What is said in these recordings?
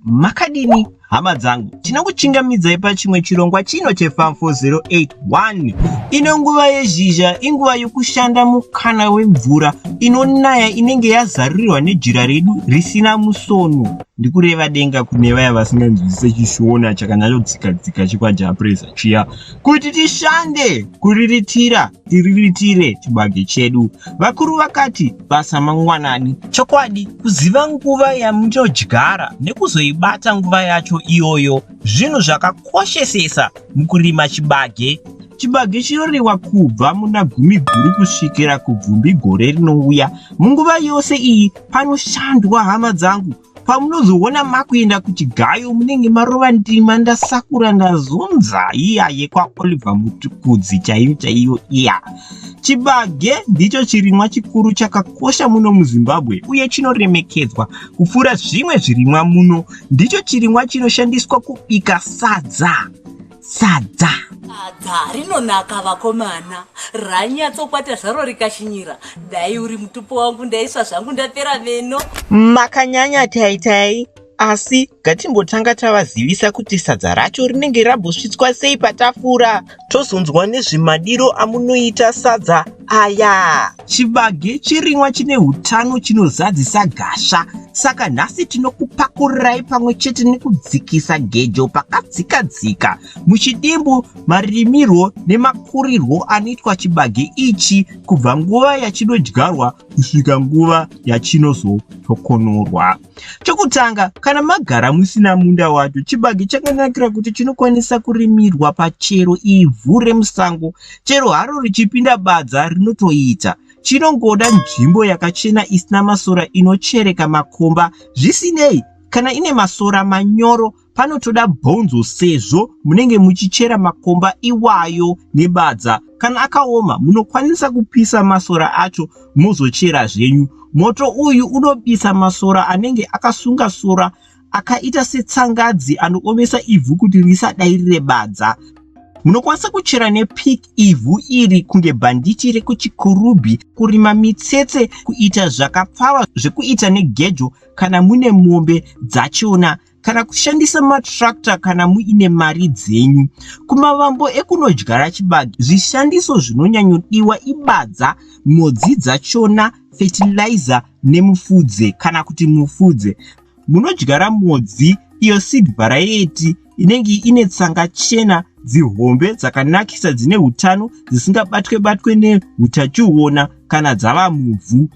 Makadini hama dzangu, tinokuchingamidzai pachimwe chirongwa chino cheFarm 4081. Ino nguva yezhizha inguva yokushanda mukana wemvura inonaya inenge yazarurirwa nejira redu risina musono, ndikureva denga kune vaya vasinganzwisise chishona chakanyanyodzikadzika chekwaJapresa chiya. Kuti tishande kuriritira tiriritire chibage chedu, vakuru vakati basa mangwanani. Chokwadi, kuziva nguva yamunodyara nekuzoibata nguva yacho iyoyo zvinhu zvakakoshesesa mukurima chibage. Chibage chinoriwa kubva muna Gumiguru kusvikira kubvumbi gore rinouya. Munguva yose iyi panoshandwa hama dzangu pamunozoona makuenda kuchigayo munenge marova ndima ndasakura ndazunza iya yekwaoliver mutukudzi chaiyo chaiyo iya chibage ndicho chirimwa chikuru chakakosha muno muzimbabwe uye chinoremekedzwa kupfuura zvimwe zvirimwa muno ndicho chirimwa chinoshandiswa kubika sadza sadza sadza rinonaka vakomana ranyatsokwata zvaro rikashinyira dai uri mutupo wangu ndaisva zvangu ndapera meno makanyanya taitai asi ngatimbotanga tavazivisa kuti sadza racho rinenge rambosvitswa sei patafura tozonzwa nezvemadiro amunoita sadza aya Chibage chirimwa chine hutano chinozadzisa gasha, saka nhasi tinokupakurirai pamwe chete nekudzikisa gejo pakadzikadzika muchidimbu marimirwo nemakurirwo anoitwa chibage ichi kubva nguva yachinodyarwa kusvika nguva yachinozotokonorwa. Chokutanga, kana magara musina munda wacho, chibage chakanakira kuti chinokwanisa kurimirwa pachero ivhu remusango. Chero haro richipinda badza rinotoita. Chinongoda nzvimbo yakachena isina masora inochereka makomba. Zvisinei, kana ine masora manyoro panotoda bhonzo sezvo munenge muchichera makomba iwayo nebadza kana akaoma munokwanisa kupisa masora acho mozochera zvenyu moto uyu unobisa masora anenge akasunga sora akaita setsangadzi anoomesa ivhu kuti risadai rire badza munokwanisa kuchera nepik ivhu iri kunge bhanditi rekuchikurubhi kurima mitsetse kuita zvakapfava zvekuita negejo kana mune mombe dzachiona kana kushandisa matractor kana muine mari dzenyu. Kumavambo ekunodyara chibage, zvishandiso zvinonyanyodiwa ibadza, mhodzi dzachona, fertilizer nemufudze kana kuti mufudze. Munodyara mhodzi iyo seed variety inenge ine tsanga chena dzihombe dzakanakisa dzine utano dzisingabatwe batwe neutachiona kana dzava muvhu.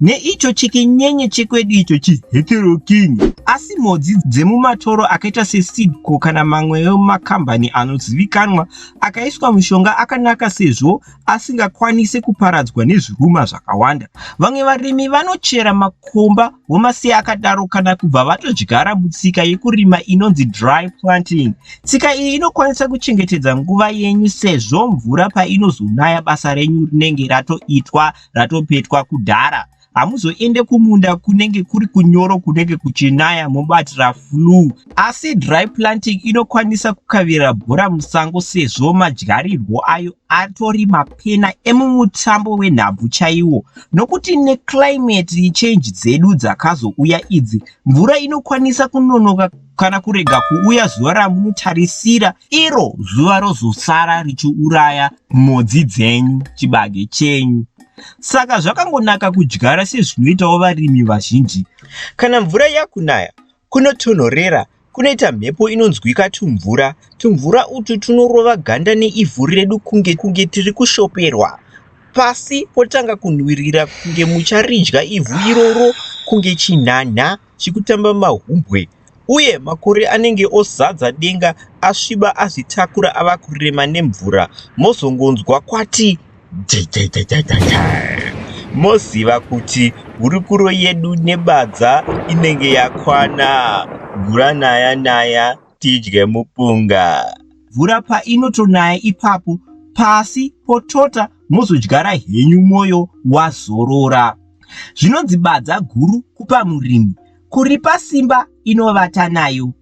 neicho chikinyenye chekwedu icho chiheteroking asi mhodzi dzemumatoro akaita sesidco kana mamwewo makambani anozivikanwa akaiswa mushonga akanaka sezvo asingakwanise kuparadzwa nezviruma zvakawanda vamwe varimi vanochera makomba vomasiya akadaro kana kubva vatodyara mutsika yekurima inonzi dry planting tsika iyi inokwanisa kuchengetedza nguva yenyu sezvo mvura painozonaya basa renyu rinenge ratoitwa ratopetwa kudhara hamuzoende kumunda kunenge kuri kunyoro kunenge kuchinaya mobatira flu asi dry planting inokwanisa kukavira bhora musango sezvo madyarirwo ayo atori mapena emumutambo wenhabvu chaiwo nokuti neclimate change dzedu dzakazouya idzi mvura inokwanisa kunonoka kana kurega kuuya zuva ramunotarisira iro zuva rozosara richiuraya mhodzi dzenyu chibage chenyu saka zvakangonaka kudyara sezvinoitawo varimi vazhinji kana mvura yakunaya kunotonhorera kunoita mhepo inonzwika tumvura tumvura utu tunorova ganda neivhu redu kunge kunge tiri kushoperwa pasi potanga kunhuwirira kunge mucharidya ivhu iroro kunge chinhanha chikutamba mahumbwe uye makore anenge ozadza denga asviba azvitakura ava kurema nemvura mozongonzwa kwati jajajajajajaa moziva kuti hurukuro yedu nebadza inenge yakwana mvura naya naya tidye mupunga mvura painotonaya ipapo pasi potota mozodyara henyu mwoyo wazorora. Zvinonzi badza guru kupa murimi, kuripa simba inovata nayo.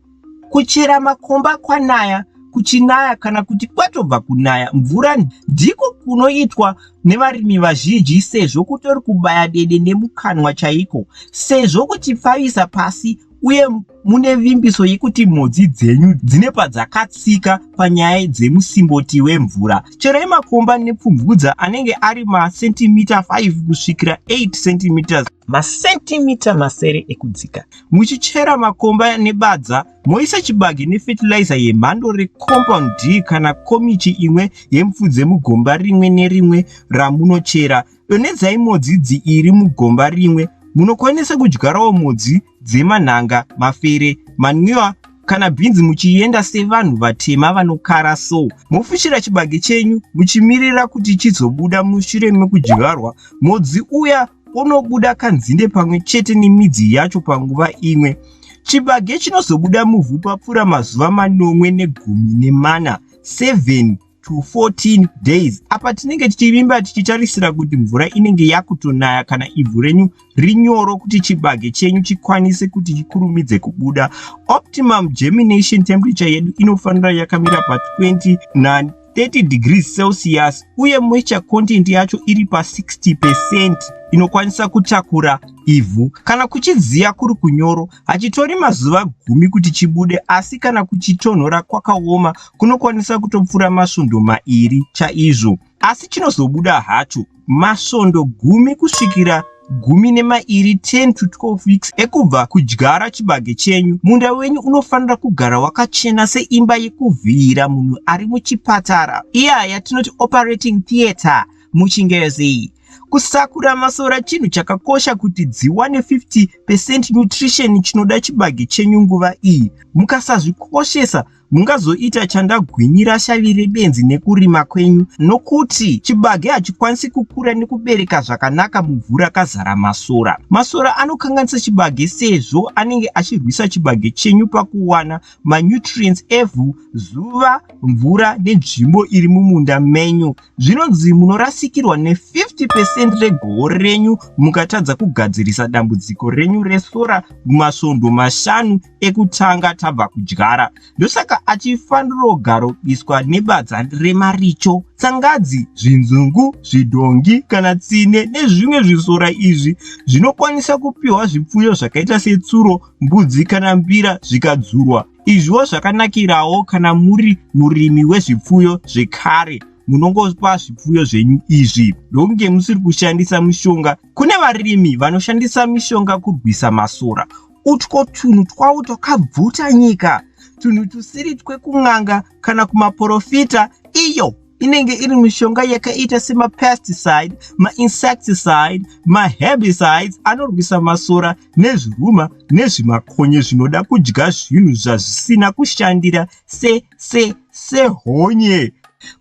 Kuchera makomba kwanaya kuchinaya kana kuti kwatobva kunaya mvura ndiko kunoitwa nevarimi vazhinji sezvo kutori kubaya dede nemukanwa chaiko sezvo kuchipfavisa pasi uye mune vimbiso yekuti mhodzi dzenyu dzine padzakatsika panyaya dzemusimboti wemvura cherai makomba nepfumvudza anenge ari masentimita 5 kusvikira 8 cm masentimita masere ekudzika muchichera makomba nebadza moisa chibage nefetilizer yemhando recompound d kana komichi imwe yemfudze mugomba rimwe nerimwe ramunochera Donedzai modzi dziiri mugomba rimwe. Munokwanisa kudyarawo modzi dzemanhanga, mafere, manwiwa kana bhinzi muchienda sevanhu vatema vanokara so. Mofushira chibage chenyu muchimirira kuti chizobuda mushure mekudyarwa. Modzi uya unobuda kanzinde pamwe chete nemidzi yacho panguva imwe. Chibage chinozobuda muvhu papfuura mazuva manomwe negumi nemana, 7 to 14 days apa tinenge tichivimba tichitarisira kuti mvura inenge yakutonaya kana ivhu renyu rinyoro kuti chibage chenyu chikwanise kuti chikurumidze kubuda optimum germination temperature yedu inofanira yakamira pa 29 30 degrees celsius uye moisture content yacho iri pa 60 percent inokwanisa kutakura ivhu kana kuchidziya kuri kunyoro Hachitori mazuva gumi kuti chibude asi kana kuchitonhora kwakaoma kunokwanisa kutopfura masvondo mairi chaizvo. Asi chinozobuda hacho masvondo gumi kusvikira gumi nemairi 10 to 12 weeks ekubva kudyara chibage chenyu. Munda wenyu unofanira kugara wakachena seimba yekuvhiira munhu ari muchipatara, iya yatinoti operating theatre muchingezi. Kusakura masora chinhu chakakosha kuti dziwane 50 percent nutrition chinoda chibage chenyu nguva iyi. Mukasazvikoshesa mungazoita chandagwinyira shavi rebenzi nekurima kwenyu nokuti chibage hachikwanisi kukura nekubereka zvakanaka muvhu rakazara masora. Masora anokanganisa chibage sezvo anenge achirwisa chibage chenyu pakuwana manutrients evhu, zuva, mvura nenzvimbo iri mumunda menyu. Zvinonzi munorasikirwa ne50 percent regoho renyu mukatadza kugadzirisa dambudziko renyu resora mumasvondo mashanu ekutanga tabva kudyara. Ndosaka achifanirogaropiswa nebadza remaricho, tsangadzi, zvinzungu, zvidhongi kana tsine nezvimwe zvisora izvi zvinokwanisa kupiwa zvipfuyo zvakaita setsuro, mbudzi kana mbira zvikadzurwa. Izviwo zvakanakirawo kana muri murimi wezvipfuyo zvekare munongopa zvipfuyo zvenyu izvi ndokunge musiri kushandisa mishonga. Kune varimi vanoshandisa mishonga kurwisa masora. Utwo tunhu twavo twakabvuta nyika, tunhu tusiri twekun'anga kana kumaporofita iyo inenge iri mishonga yakaita semapesticide, mainsecticide, maherbicides anorwisa masora nezviruma nezvimakonye zvinoda kudya zvinhu zvazvisina kushandira se se sehonye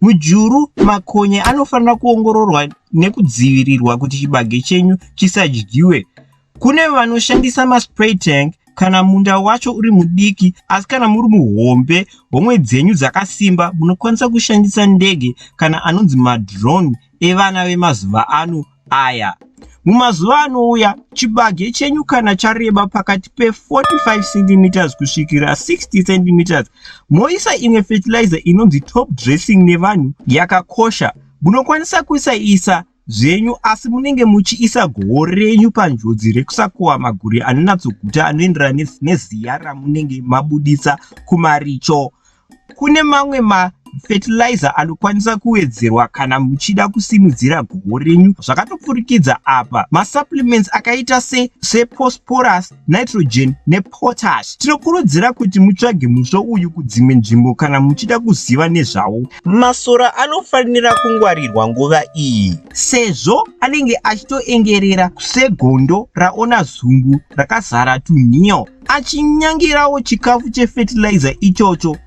mujuru makonye anofanira kuongororwa nekudzivirirwa kuti chibage chenyu chisadyiwe kune vanoshandisa maspray tank kana munda wacho uri mudiki asi kana muri muhombe homwe dzenyu dzakasimba munokwanisa kushandisa ndege kana anonzi madrone evana vemazuva ano aya. Mumazuva anouya, chibage chenyu kana chareba pakati pe45 cm kusvikira 60 cm, moisa imwe fertilizer inonzi top dressing nevanhu yakakosha. Munokwanisa kuisa isa zvenyu asi munenge muchiisa goho renyu panjodzi rekusakohwa maguri anonatsoguta anoenderana neziya ramunenge mabudisa kumaricho. Kune mamwe ma fertilizer anokwanisa kuwedzerwa kana muchida kusimudzira goho renyu zvakatopfurikidza apa masupplements akaita se seposporus nitrogen nepotash tinokurudzira kuti mutsvage musvo uyu kudzimwe nzvimbo kana muchida kuziva nezvawo masora anofanira kungwarirwa nguva iyi sezvo anenge achitoengerera segondo raona zumbu rakazara tunhiyo achinyangirawo chikafu chefertilizer ichocho.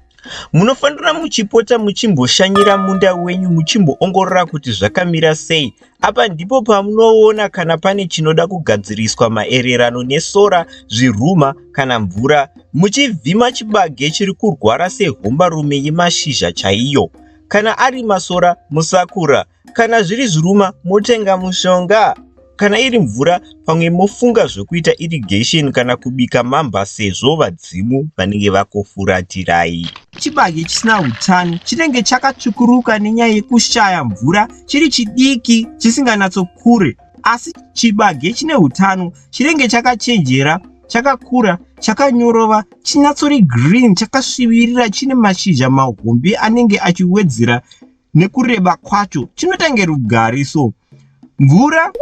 Munofanira muchipota muchimboshanyira munda wenyu muchimboongorora kuti zvakamira sei. Apa ndipo pamunoona kana pane chinoda kugadziriswa maererano nesora, zviruma kana mvura. Muchivhima chibage chiri kurwara sehombarume yemashizha chaiyo. Kana ari masora, musakura. Kana zviri zviruma motenga mushonga. Kana iri mvura pamwe mofunga zvokuita irrigation kana kubika mamba sezvo vadzimu vanenge vakofuratirai. Chibage chisina utano chinenge chakatsvukuruka nenyaya yekushaya mvura chiri chidiki chisinganyatsokure asi chibage chine utano chinenge chakachenjera chakakura chakanyorova chinyatsori green chakasvivirira chine mashizha mahombe anenge achiwedzera nekureba kwacho chinotange rugari so mvura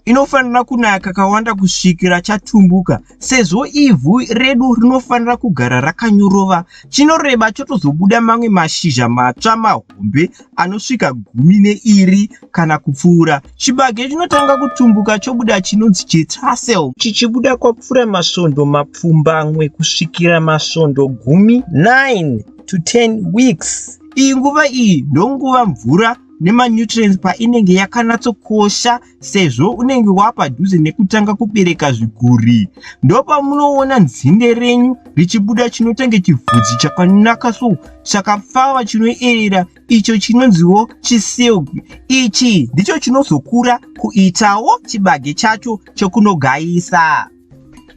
inofanira kunaya kakawanda kusvikira chatumbuka sezvo ivhu redu rinofanira kugara rakanyorova chinoreba chotozobuda mamwe mashizha matsva mahombe anosvika gumi neiri kana kupfuura chibage chinotanga kutumbuka chobuda chinonzi chetasel chichibuda kwapfuura masvondo mapfumbamwe kusvikira masvondo gumi 9 to 10 weeks Iyi nguva iyi ndonguva mvura nemanutrients painenge yakanatsokosha sezvo unenge wapadhuze nekutanga kubereka zviguri. Ndopamunoona nzinde renyu richibuda chinotenge chivhudzi chakanaka so chakapfava chinoerera icho chinonziwo chisilk. Ichi ndicho chinozokura kuitawo chibage chacho chokunogayisa.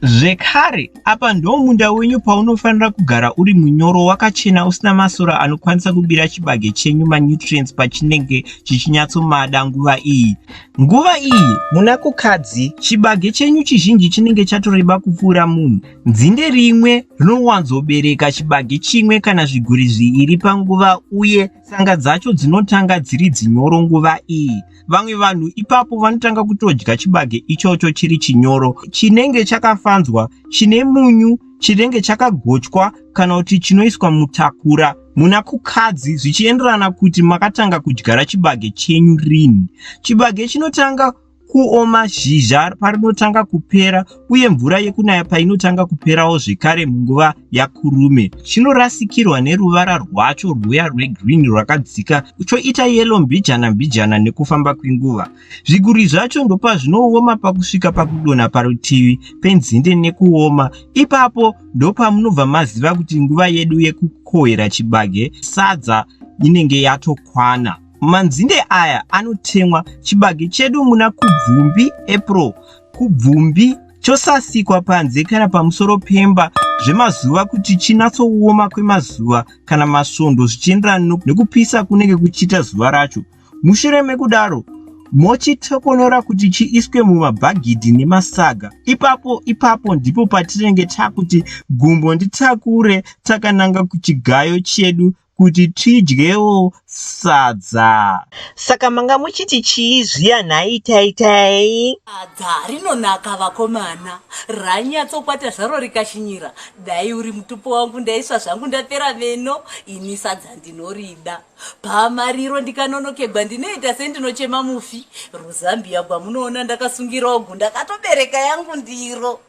Zvekare, apa ndiwo munda wenyu paunofanira kugara uri munyoro, wakachena, usina masora anokwanisa kubira chibage chenyu manutrients pachinenge chichinyatsomada nguva iyi. Nguva iyi, muna Kukadzi, chibage chenyu chizhinji chinenge chatoreba kupfuura munhu. Dzinde rimwe rinowanzobereka chibage chimwe kana zviguri zviiri panguva uye tsanga dzacho dzinotanga dziri dzinyoro nguva iyi. vamwe vanhu ipapo vanotanga kutodya chibage ichocho chiri chinyoro chinenge chakafanzwa chine munyu chinenge chakagochwa kana kuti chinoiswa mutakura muna kukadzi zvichienderana kuti makatanga kudyara chibage chenyu rini chibage chinotanga kuoma zhizha parinotanga kupera uye mvura yekunaya painotanga kuperawo zvekare munguva yakurume chinorasikirwa neruvara rwacho rwuya rwegreen rwakadzika choita yelo mbijana mbijana nekufamba kwenguva zviguri zvacho ndopazvinooma pakusvika pakudonha parutivi penzinde nekuoma ipapo ndopamunobva maziva kuti nguva yedu yekukohera chibage sadza inenge yatokwana manzinde aya anotemwa chibage chedu muna kubvumbi april kubvumbi chosasikwa panze kana pamusoro pemba zvemazuva kuti chinatsooma kwemazuva kana masvondo zvichienderana nekupisa kunenge kuchiita zuva racho mushure mekudaro mochitokonora kuti chiiswe mumabhagidhi nemasaga ipapo ipapo ndipo patinenge takuti gumbo nditakure takananga kuchigayo chedu kuti tidyewo sadza. Saka manga muchiti chii zviya nhai taitai? Sadza rinonaka vakomana, ranyatsokwata zvaro rikashinyira. Dai uri mutupo wangu ndaisva zvangu ndapera meno. Ini sadza ndinorida. Pamariro ndikanonokegwa ndinoita sendinochema mufi. Ruzambia gwamunoona ndakasungirawo gu ndakatobereka yangu ndiro.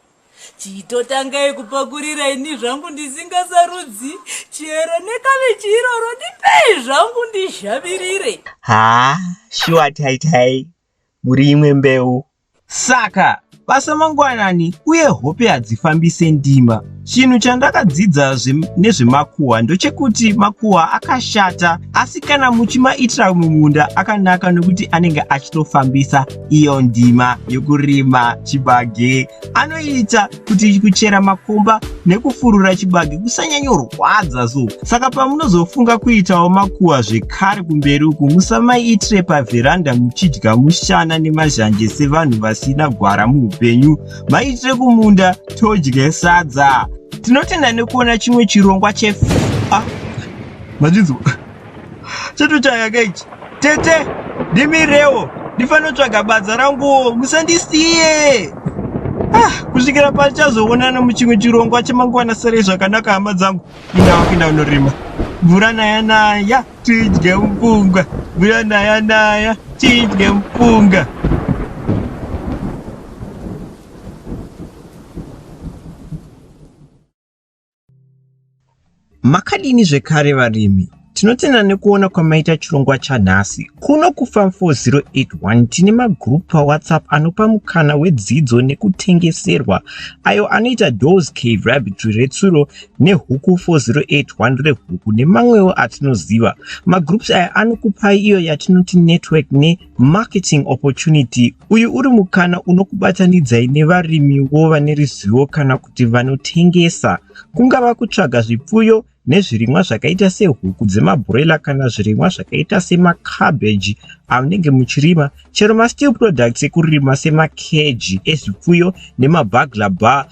Chitotangai kupakurira ini zvangu ndisingasarudzi chero nekavechi iroro ndipei zvangu ndizhavirire. Haa shuwa taitai muri imwe mbeu. Saka basa mangwanani uye hope hadzifambise ndima. Chinhu chandakadzidza nezvemakuhwa ndochekuti makuhwa akashata asi kana muchimaitira mumunda akanaka nokuti anenge achitofambisa. iyo ndima yokurima chibage anoita kuti kuchera makomba nekufurura chibage kusanyanyorwadza so saka pamunozofunga kuitawo makuwa zvekare kumberi uku musamaitire pavheranda muchidya mushana nemazhanje sevanhu vasina gwara muupenyu maitire kumunda todye sadza tinotenda nekuona chimwe chirongwa chefa ah, chatochayaka ichi tete ndimirewo ndifanotsvaga badza ranguwo musandisiye ah, kusvikira pachazoonana muchimwe chirongwa chemangwana serei zvakanaka hama dzangu indawa kuinda unorima mvura naya naya tidye mupunga mvura naya naya tidye mupunga Makadini zvekare varimi? Tinotenda nekuona kwamaita chirongwa chanhasi. Kuno kuFarm 4081 tine magroup paWhatsApp anopa mukana wedzidzo nekutengeserwa ayo anoita Doors Cave Rabbit retsuro neHuku 4081 rehuku nemamwewo atinoziva. Magroups aya anokupai iyo yatinoti network ne Marketing Opportunity, uyu uri mukana unokubatanidzai nevarimiwo vane ruzivo kana kuti vanotengesa. Kungava kutsvaga zvipfuyo nezvirimwa zvakaita sehuku dzemabroiler kana zvirimwa zvakaita semacabbage amunenge muchirima, chero masteel products ekurima semakeji ezvipfuyo nemabagla bar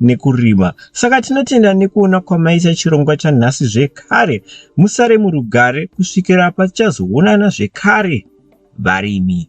nekurima saka tinotenda nekuona kwamaita chirongwa chanhasi zvekare musare murugare kusvikira patichazoonana zvekare varimi